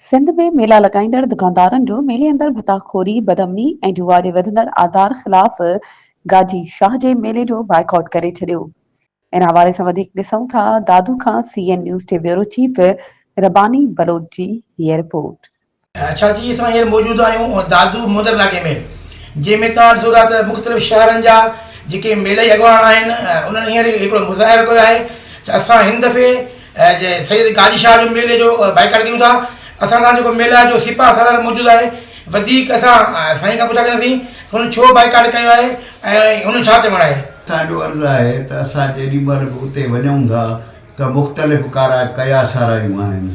سنڌ ۾ ميلا لڳائيندڙ دڪاندارن جو ميلي اندر ڀتا خوري، بدامني ۽ جوا جي وڌندڙ آزار خلاف گاجي شاهه جي ميلي جو بائيڪاٽ ڪري ڇڏيو. ان حوالي سان وڌيڪ ڏسون ٿا دادو کان سي اين نيوز جي بيورو چيف رباني بلوچ جي هيء رپورٽ. اچا جي اسان هينئر موجود آهيون دادو مندر علائقي ۾ جنهن ۾ تان ڏسو ٿا ته مختلف شهرن جا جيڪي ميلائي اڳواڻ آهن انهن هينئر هڪڙو مظاهرو ڪيو آهي ته اسان هن دفعي اهي جي سيد قاضي شاهه جو ميلي جو بائيڪاٽ ڪيون ٿا اسان سان جيڪو ميلا جو سپاهه سالار موجود آهي وڌيڪ اسان سائين کان پڇا ڪنداسين ته هن ڇو بائيڪاٽ ڪيو آهي ۽ هن ڇا چوڻ آهي. اسان جو عرض آهي ته اسان جيڏي مهل به اتي وڃون ٿا ته مختلف ڪارا ڪيا ساراهيون آهن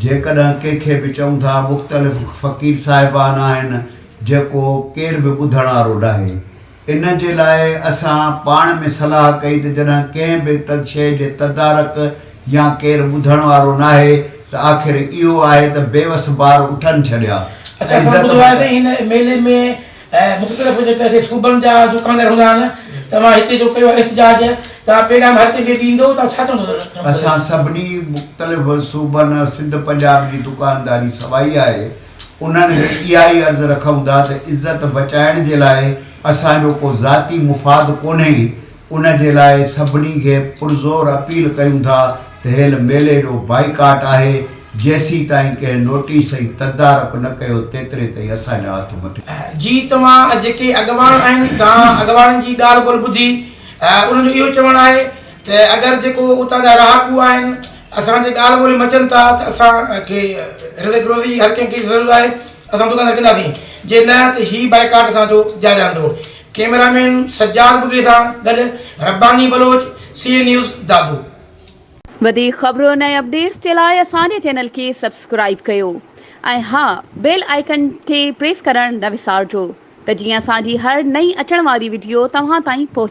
جيڪڏهن ڪنهن کي به چئون ٿا مختلف فقير صاحبان آهن جيڪو ڪير به ٻڌڻ وارو ناهي ان جي لاء اسان پاڻ ۾ صلاح ڪئي ته جڏهن ڪنهن به شيء جي تدارڪ يا ڪير ٻڌڻ وارو ناهي ته آخر اهو آهي ته بيوس بار اٺن ڇڏيا اڇا ۽ اسان عزت ٻڌو آهي بچا. سائين هن ميلي ۾ مختلف جيڪي اسين صوبن جا دڪاندار هوندا آهن توهان هتي جو ڪيو احتجاج توهان پيغام هر ڪنهن کي ڏيندو توهان ڇا چوندو انهن ڪري؟ اسان سڀني مختلف صوبن سنڌ پنجاب جي دڪانداري سوائي آهي انهن به اها ئي عرض رکون ٿا ته عزت بچائڻ جي لاء اسان جو ڪو ذاتي مفاد ڪونهي، ان جي لاء سڀني کي پرزور اپيل ڪيون ٿا ته هيل ميلي جو بائيڪاٽ آهي، جيسيتائين ڪنهن نوٽيس ۽ تدارڪ نه ڪيو تيتري تائين اسان جا هٿ مٿي. جي توهان جيڪي اڳواڻ آهن توهان اڳواڻن جي ڳالهه ٻولهه ٻڌي انهن جو اهو چوڻ آهي ته اگر جيڪو اتان جا رهاڪو آهن اسان جي ڳالهه ٻولهه مچن ٿا ته اسان کي رزق روزي هر ڪنهن کي ضرور آهي اسان دڪان تي رکنداسين جي نه ته هي بائيڪاٽ اسان جو جاري رهندو ڪيمرا مين سجاد ٻگهي سان گڏ Rabbani Baloch C A news Dadu. وڌيڪ خبرن ۽ اپڊيٽس جي لاء اسان جي چينل کي سبسڪرائيب ڪيو ۽ ها بيل آئيڪن کي پريس ڪرڻ نه وسارجو ته جيئن اسان جي هر نئين اچڻ واري وڊيو توهان تائين پهچي